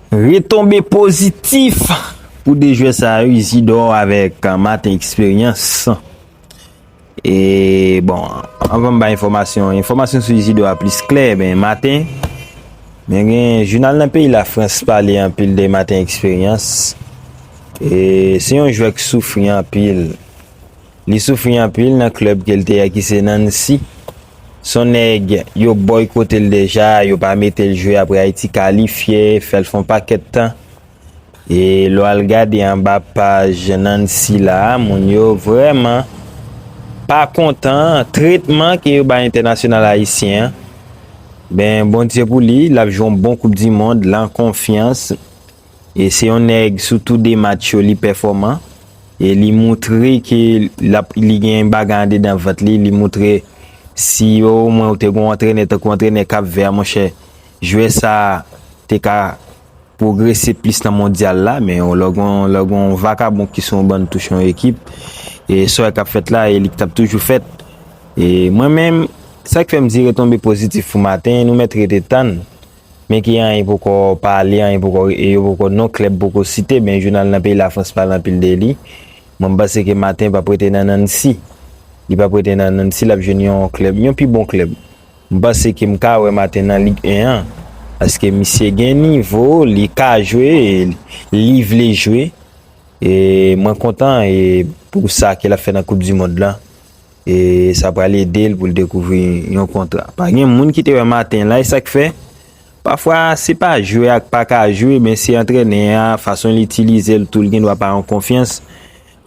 Retonbe pozitif pou 2 jwè sa yo, Isidor avèk Martin Expérience. E bon, anvan m bay enfòmasyon, enfòmasyon sou Isidor a plis klè, men Martin, men gen jounal nan peyi Lafrans pale anpil de Martin Expérience. E se yon jwè k soufri anpil. Li soufri anpil nan club ke l te a ki se Nancy. Son nèg yo boykote l deja, yo pa mete l jwe apre Ayiti kalifye, fè l fè yon pakèt tan. E lè w al gade anba paj Nancy la, moun yo vrèman pa kontan tretman ke yo bay entènasyonal ayisyen an. Ben, Bondye pou li, l ap jwe yon bon koupdimond lan konfyans. E se yon nèg sou tou 2 match yo li pèfòman e li moutre ke lap li gen yon bagay andedan vant li, li moutre si yo omwen ou te gon antrenè tankou antrenè Cap Vert monchè jwè sa te ka pwogrese plis nan mondyal la men lè gon lè gon vakabon ki sou yon ban touch yon ekip e sòy kap fèt la e li k tap toujou fèt e mwen menm sak fèm di retonbe pozitif pou maten nou mèt rete tann Men ki anyen poko pale, anyen poko e yo poko non klèb poko site, men jounal nan peyi Lafrans pale anpil de li. Mwen m panse ke Martin pap rete nan Nancy. Li pap rete nan Nancy, lap jwenn yon klèb, yon pi bon klèb. M panse ke m ka wè Martin nan Ligue 1 an. Paske misye gen nivo, li ka jwe, li vle jwe. E mwen kontan e pou sa ke lap fè nan koup du mond lan. E sa pral ede l pou l dekouvri yon kontra. Pa gen moun ki te wè maten la, e sa k fè? Pafwa, se pa jwe ak pa ka jwe, men se antrenè a, fason l itilize l tou, l gen dwa pa an konfyans.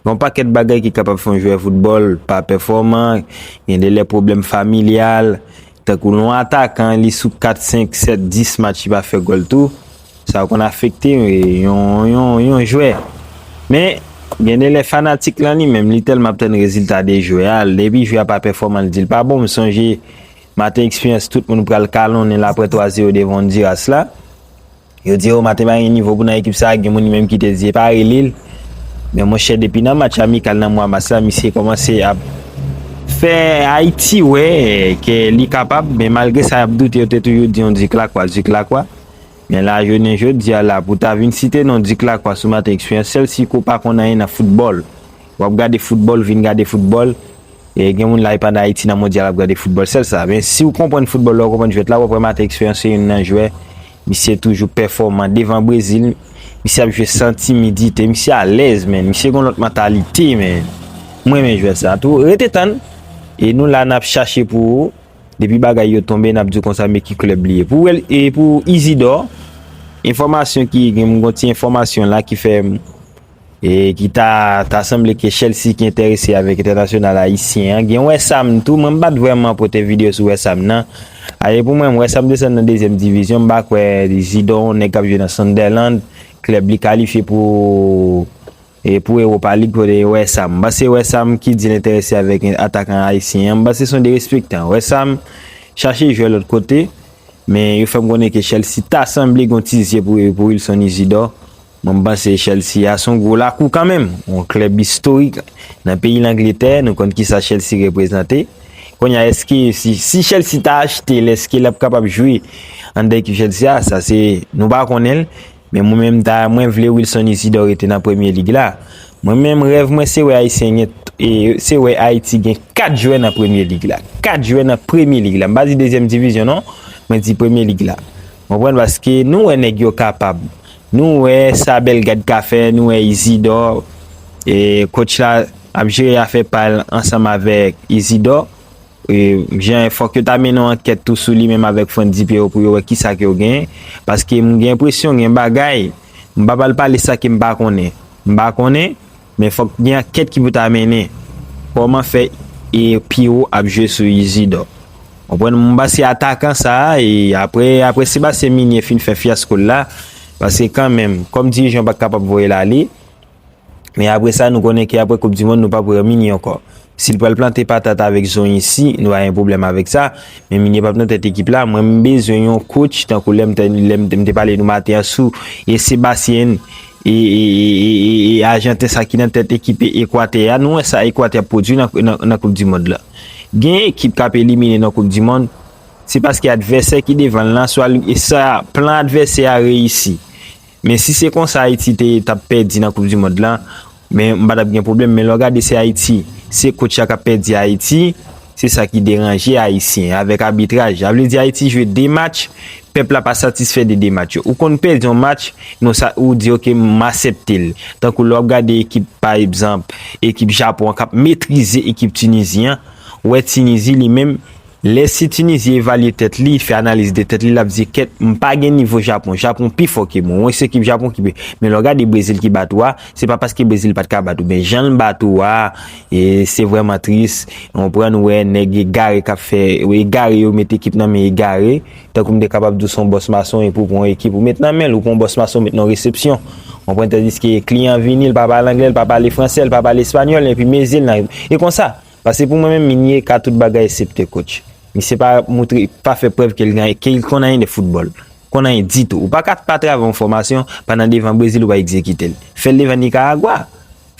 Gen yon pakèt bagay ki kapab fè yon jwè foutbòl pa pèfòman, gen de lè pwoblèm familyal, tankou l yon atakan, li sou 4, 5, 7, 10 match li pa fè gòl tou. Sa konn afekte yon jwè. Men, gen de lè fanatik lan li menm, li tèlman ap tann rezilta de jwè a, depi jwè a pa pèfòman li di l pa bon. M sonje maten eksperyans tout moun pral kalonnen l aprè 3 zero devan Ondiras la. Yo di o maten pa gen nivo pou nan ekip sa a, gen moun li menm ki te di e pa rele l. Men monchè depi nan match amikal nan mwa mas la misye kòmanse ap fè Ayiti wè ke li kapab men malgre sa y ap doute yo te toujou di yon di klakwa di klakwa. Men la jounen jodi a la pou ta vin site non Dick Lacroix sou maten eksperyans sèl si ke w pa konn anyen nan foutbòl. W ap gade foutbòl, vin gade foutbòl, gen moun la e pa nan Ayiti nan mondyal ap gade foutbòl sèl sa. Men si w konprann foutbòl lè w konprann jwèt la w ap wè maten eksperyans se youn nan jwè misye toujou pèfòman devan Brezil misye ap jwe san timidite misye alèz menn misye gen yon lòt mantalite menn. M renmen jwè sa tou. Rete tann e nou la n ap chache pou ou. Depi bagay yo tonbe nap diw konsa men ki club li ye. Pou wel e pou Isidor enfomasyon ki gen m gon ti enfomasyon la ki fè m e ki ta ta sanble ke Chelsea ki enterese avek entènasyonal ayisyen an. Gen West Ham tou men m pat vreman pote video sou West Ham nan. A e pou mwen West Ham desann nan dezyèm divizyon m pa kwè Isidor yon nèg kap jwe nan Sunderland klèb li kalifye pou E pou Europa League kote gen West Ham. M panse West Ham ki di l enterese avèk atakan ayisyen an, m panse se yon derespektan. West Ham chache jwè lòt kote, men yo fè m konnen ke Chelsea ta sanble gen yon ti zye pou yo pou Wilson Isidor. Mwen m panse Chelsea a se yon gwo lakou kanmenm, yon klèb istorik nan peyi Langletè, nou konn kisa Chelsea reprezante. Kounye a èske si Chelsea ta achte l, èske l ap kapab jwe anndan ekip Chelsea a? Sa se nou pa konnen l. Men mwen menm ta mwen vle Wilson Isidor rete nan premye lig la. Mwen menm rèv mwen se wè ayisyen gen e se wè ayiti gen 4 jwè nan premye lig la. 4 jwè nan premye lig la. M pa di dezyèm divizyon non. Mwen di premye lig la. Ou konprann paske nou wè nèg yo kapab. Nou wè sa Bellegarde ka fè, nou wè Isidor e coach la ap jere afè pa l ansanm avèk Isidor. Fòk yo ta mennen yon ankèt tou sou li menm avèk Frantz Dipeyro pou yo wè ki sa ke yo gen. Paske m gen enpresyon gen bagay, m pa pral pale sa ke m pa konnen. M pa konnen, men fòk gen ankèt ki pou ta mennen. Kòman fè e Pierrot ap jwe sou Isidor? Konprann m pa se atakan sa a e apre apre Sébastien Migné fin fè fyasko l la, paske kanmenm kòm dirijan ou pa kapab voye l ale. Men apre sa nou konnen ke apre koup di mond nou pap wè Minie ankò. Si l pral plante patat avèk zonyon isi nou pa gen pwoblèm avèk sa, men Minie pap nan tèt ekip la, mwen m bezwen yon coach tankou lè m lè m te pale nou maten an sou e Sebastien e e ajanten sa ki nan tèt ekip ekwatè a nou wè sa ekwatè ap pwodui nan koup di mond la. Gen ekip k ap elimine nan koup di mond se paske advèsè ki devan l lan swa e sa plan advèsè a reyisi. Men si se konsa Ayiti te tap pèdi nan koup di mond la men m pa tap gen pwoblèm men lè w gade se Ayiti se kotch la kap pèdi Ayiti se sa ki deranje Ayisyen avèk abitraj la vle di Ayiti jwe 2 match pèp la pa satisfè de 2 match yo ou konn pèdi yon match non sa ou di ok m asèpte l tankou lè w ap gade ekip pa egzanp ekip Japon an kap metrize ekip Tunisie an ou wè Tunisie li menm Lè si Tunisie evalye tèt li, fè analiz de tèt li lap di kèt m pa gen nivo Japon, Japon pi fò ke mwen, wè se ekip Japon ki pi, men lè w gade Brésil ki bat ou a, se pa paske Brésil pat ka bat ou, men jan l bat ou a, e se vrèman tris, ou konprann, ou wè nèg egare kap fè, ou egare yo met ekip nan men egare, tankou m te kapab di w son bòs mason epi w pran yon ekip ou met nan men l, ou pran yon bòs mason ou met nan yon resepsyon, ou konprann, tandiske kliyan vini l pa pale anglè, l pa pale fransè, l pa pale espanyòl, epi mezi l nan, e konsa. Pase pou mwen menm Migne ka tout bagay esepte coach. Misye pa moutre pa fè prèv ke li konn anyen de football. Konn anyen ditou. Ou paka pa travay yon fòmasyon pandan devan Brezil ou pa egzekite l. Fè l devan Nicaragua.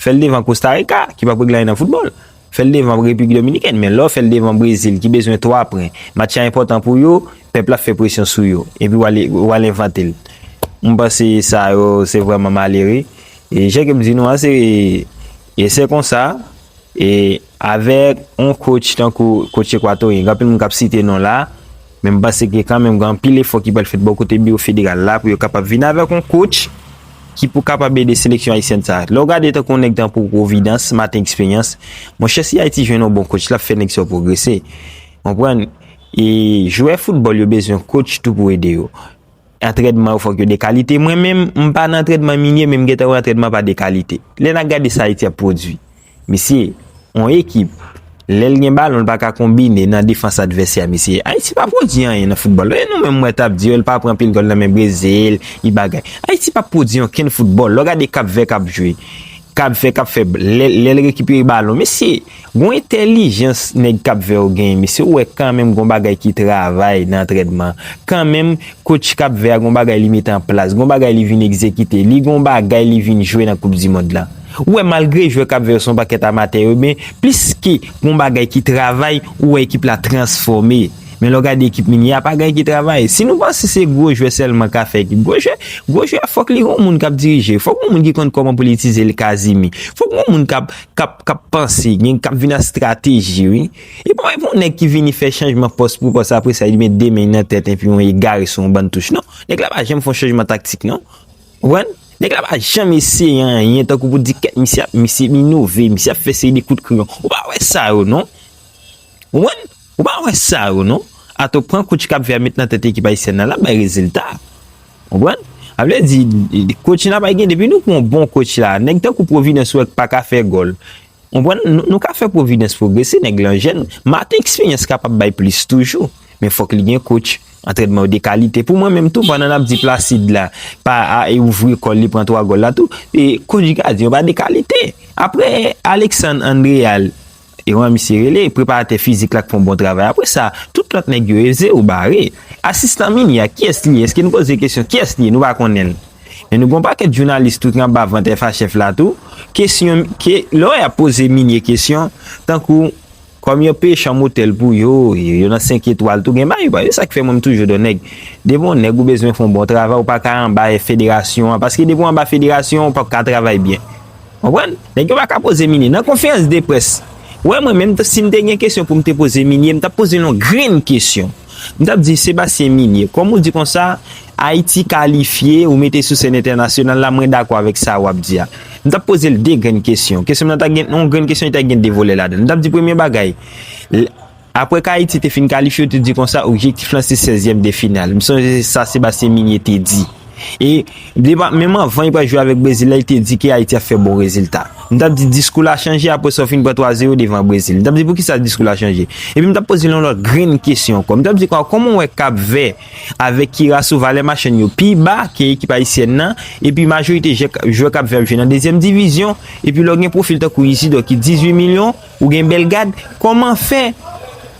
Fè l devan Costa Rica ki pap regle anyen nan football. Fè l devan Repiblik Dominikèn. Men lè w fè l devan Brezil ki bezwen 3 pwen. Match la enpòtan pou yo. Pèp la fè presyon sou yo. Epi w al envante l. Mwen panse sa yo se vrèman malere. E jan ke m di nou an se. E se konsa, e avèk yon coach tankou coach Equatorien, gen anpil moun k ap site non la, men m panse ke kanmenm gen anpil efò ki pral fèt bò kote biwo federal la pou yo kapab vin avèk yon coach ki pou kapab ede seleksyon ayisyèn sa. Lè w gade tankou yon nèg tankou Providence, Martin Expérience, monchè si Ayiti jwenn yon bon coach, l ap fè nèg sa yo pwogrese. Konprann? E jwè foutbòl yo bezwen coach tou pou ede yo. Antrèdman yo fòk yo de kalite. Mwen menm, m pa nan antrèdman minye men m gentan wè antrèdman pa de kalite. Lè n ap gade sa Ayiti ap pwodui. Mesye, yon ekip, lè l gen balon l pa ka konbine nan defans advèsè a mesye. Ayiti pa pwodui anyen nan foutbòl. Lè nou menm mwen t ap di yo l pa pran pil gòl nan men Brezil, li bagay. Ayiti pa p pwodui onkenn foutbòl. Lè w gade Kapvè k ap jwe. Kapvè kap fè lèl rekipere balon mesye gon entèlijans nèg kapvè yo genyen mesye ou wè kanmenm gon bagay ki travay nan antrènman kanmenm coach kapvè a gon bagay li mete anplas gon bagay li vin egzekite li gon bagay li vin jwe nan koup dimond lan ou wè malgre jwè kapvè yo son pakèt amatè yo men pliske gon bagay ki travay ou wè ekip la transfòme. Men lè w gade ekip Migné a pa gen ki travay. Si nou panse se gwo jwè sèlman ka fè ekip. Gwo jwè, gwo jwè a fòk li gen yon moun k ap dirije l. Fòk gen yon moun ki konn kòman pou l itilize l Casimir. Fòk gen yon moun k ap, k ap, k ap panse, gen, k ap vin ak strateji wi. E pa yon nèg ki vini fè chanjman pòs pou pòs apre sa li met 2 men l nan tèt enpi yon egare sou yon bann touch. Non. Nèg la pa janm fè yon chanjman taktik non. Ou konprann? Nèg la pa janm eseye anyen tankou pou di kèt misye ap, misye inove, misye ap fè seri de kout kreyon. Ou pa wè sa yo non. Ou konprann? Ou pa wè sa yo non. Atò pran coach kap vèmit nan tèt ekip ayisyèn nan lap bay rezilta. Konprann? Sa vle di coach la pa gen depi nou pran yon bon coach la nèg tankou Providence ou wè k paka fè gòl. Konprann? Nou ka fè Providence pwogrese nèg lan jèn. Martin eksperyans kapab bay plis toujou. Men fòk li gen coach. Antrènman yo de kalite. Pou mwen menm tou pandan nap di Placide la pa al ouvri kòl li pran 3 gòl la tou. Coach gadyen yo pa de kalite. Aprè Alexandre Andreal. Ewan misye rele, preparatè fizik la k fon bon travay apre sa tout lòt nèg yo eze ou bare. Asistan mini a kiyès li ye eske nou poze kesyon kiyès li ye nou pa konnen l men nou gon pakèt jounalis tou ki anba vant FA chèf la tou kesyon ke lò yap poze minie kesyon tankou kòm yo peye chanm otèl pou yo e yo nan 5 etwal tou gen bagay yo pa e sak fè mwen m toujou do nèg depi on nèg ou bezwen fon bon travay ou paka anba federasyon an paske depi w anba federasyon an ou pap ka travay byen. Konprann? Nèg yo pa ka poze Minie nan konferans de près. Ou wè mwen menm si m te gen kesyon pou m te poze Minie, m t ap poze l yon grenn kesyon. M t ap di, Sebastien Minie, kòm ou di konsa, Ayiti kalifye, ou mete sou sèn entènasyonal la, mwen dakò avèk sa w ap di a. M t ap poze l de grenn kesyon. Kesyon m nan ta gen yon grenn kesyon, li ta gen de volè ladan l. M t ap di premye bagay, Apre k Ayiti te fin kalifye yo te di konsa objektif lan se sèzyèm de final. M sonje se sa Sébastien Migné te di. E depa menm anvan yo pral jwe avèk Brezil la li te di ke Ayiti ap fè bon rezilta. M t ap di diskou la chanje apre sa w fin pran 3 zero devan Brezil. M t ap di poukisa diskou la chanje. Epi m t ap poze l yon lòt grenn kesyon ankò. M t ap di konsa kòman w wè Kap Vè avèk Kirasou valè machann yo pi ba ke ekip ayisyèn nan epi majorite jwè Kap Vè ap jwe nan dezyèm divizyon epi lè w gen pwofil tankou Izidò ki 18 milyon Ou gen bèl gad, kòman fè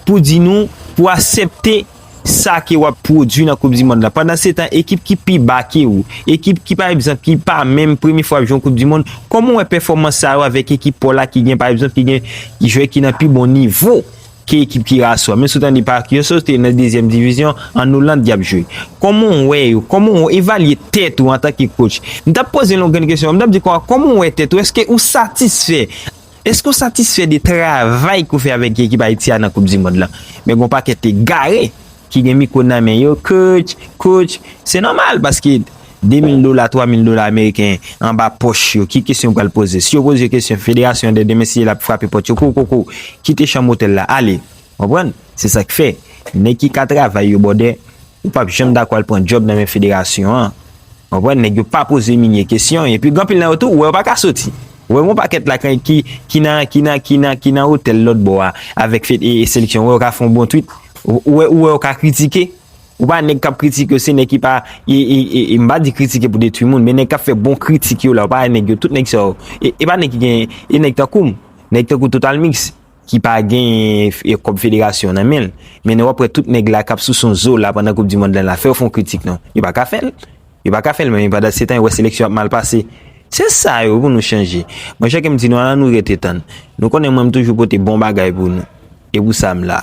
pou di nou pou asepte sa ke wap pwodwi nan koup di mond la pandan se tan ekip ki pi ba ke ou, ekip ki pa egzanp ki pa menm premye fwa ap jwe yon koup di mond, kòman ou wè pèfòmans sa yo avèk ekip paw la ki gen pa egzanp ki gen jwè ki nan pi bon nivo ke ekip ki ra sou a, menm si ou tande pa ak yo se te nan dezyèm divizyon an Oland yap jwe, kòman ou wè yo, kòman ou evalye tèt ou antanke kotch, mtap poze yon grenn kesyon, mtap di kòman ou wè tèt ou, eske ou satisfè. Eske w satisfè de travay ke w fè avèk ekip Ayiti a nan koup di mond lan? Men gen yon pakèt egare ki gen mikwo nan men yo, Coach, coach, se nòmal paske 2 mil dola, 3 mil dola ameriken anba pòch yo, ki kesyon yo pral poze? Si yo poze yo kesyon, federasyon an dè demen si yè la ap frape pòt yo, koukoukoukou, kite chanm otèl la, ale. Konprann? Se sa k fè, nèg ki ka travay yo bòdè, yo pap janm dakò al pran djòb nan men federasyon an. Konprann? Nèg yo pa poze Migne kesyon. Epi gen anpil nan yo tou, ou wè yo pa ka soti. Ou wè gen yon pakèt la kan ki ki nan ki nan ki nan ki nan otèl lòt bò a avèk fed e e seleksyon. Ou wè yo ka fè yon bon twit. Ou ou wè ou wè yo ka kritike. Ou pa nèg k ap kritike yo se nèg ki pa e e e e m pa di kritike pou detwi moun men nèg k ap fè bon kritik yo la ou pa wè nèg yo tout nèg sa yo e e pa nèg ki gen e nèg tankou m, nèg tankou Totalmix. ki pa gen kòb federasyon an nan menl, men wap wè tout nèg la kap sou son Zola pandan koup di mond lan la fèw fon kritik non, yo paka fèl, yo paka fèl men pandan se tan yo wè seleksyon ap mal pase, se sa yo pou nou chanje monchè kem di nou ala nou rete tann, nou konnen mwen mtoujou pote bon bagay pou nou, e pou sa m la.